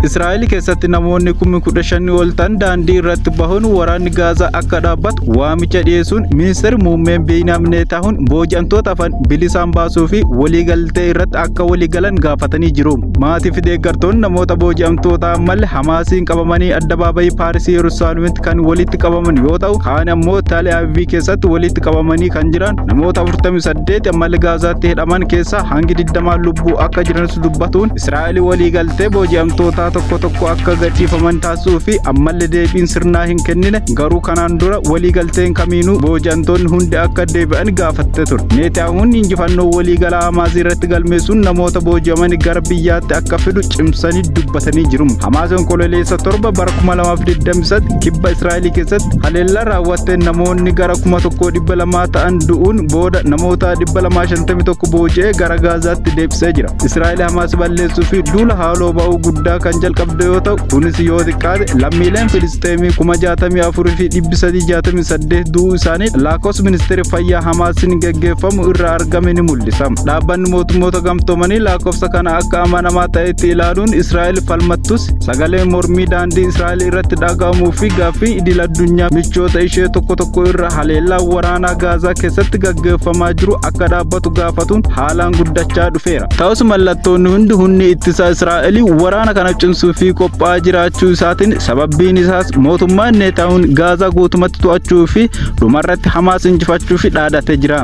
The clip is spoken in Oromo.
Israa'el keessatti namoonni kumni kudha shanii ol ta'an daandii irratti bahuun waraanni Gaazaa akka dhaabbatu waamicha dhiyeessuun ministeerri muummeen Biinyaam Neetaahuun booji'amtoota afan bilisaan baasuu fi waliigaltee irratti akka waliigalan gaafatanii jiru. Maatii fi deeggartoonni namoota booji'amtoota ammalle Hamaasiin qabamanii addabaabayii Paarisii Yerusaalemitti kan walitti qabaman yoo ta'u, kaan ammoo Tel Aviv keessatti walitti qabamanii kan jiran namoota 48 ammalle Gaazaatti hidhaman keessaa hangi 20 lubbuu akka jiranis dubbatuun Israa'el Yaali waliigaltee booji'amtootaa tokko tokko akka gadhiifaman taasisuu fi ammalle deebiin sirnaa hin kennine garuu kanaan dura waliigalteen kamiinuu booji'amtoonni hundi akka deebi'an gaafatte ture. Neetiyaahuun injifannoo waliigalaa Hamaas irratti galmeessuun namoota booji'aman gara biyyaatti akka fidu cimsanii dubbatanii jiru. Hamaas Onkololeessa torba bara 2023 kibba Israa'el keessatti haleellaa raawwatteen namoonni gara 1,200 ta'an du'uun booda namoota 251 booji'ee gara Gaazaatti deebisee jira. Israa'el Hamaas balleessuu fi duula haaloo ba'uu guddaa kan jalqabde yoo ta'u kunis yoo xiqqaate lammiileen Filisxeemii kuma jaatamii afurii fi dhibbi sadii jaatamii saddeet du'uu isaanii lakkoofsa ministeera fayyaa Hamaasiin gaggeeffamu irraa argame ni mul'isa. Dhaabbanni mootummoota gamtoomanii lakkoofsa kana akka amanamaa ta'etti ilaaluun Israa'el falmattus sagaleen mormii daandii Israa'el irratti dhaga'amuu fi gaaffii idil addunyaa michoota ishee tokko tokko irra haleellaa waraanaa Gaazaa keessatti gaggeeffamaa jiru akka dhaabbatu gaafatuun haalaan guddachaa dhufeera. Ta'us mallattoonni hundi humni ittisaa Israa'el waraana kana cimsuu fi qophaa'aa jiraachuu isaatiin sababbiin isaas mootummaan Neetaawun Gaazaa guutumatti to'achuu fi dhumarratti Hamaas injifachuuf dhaadate jira.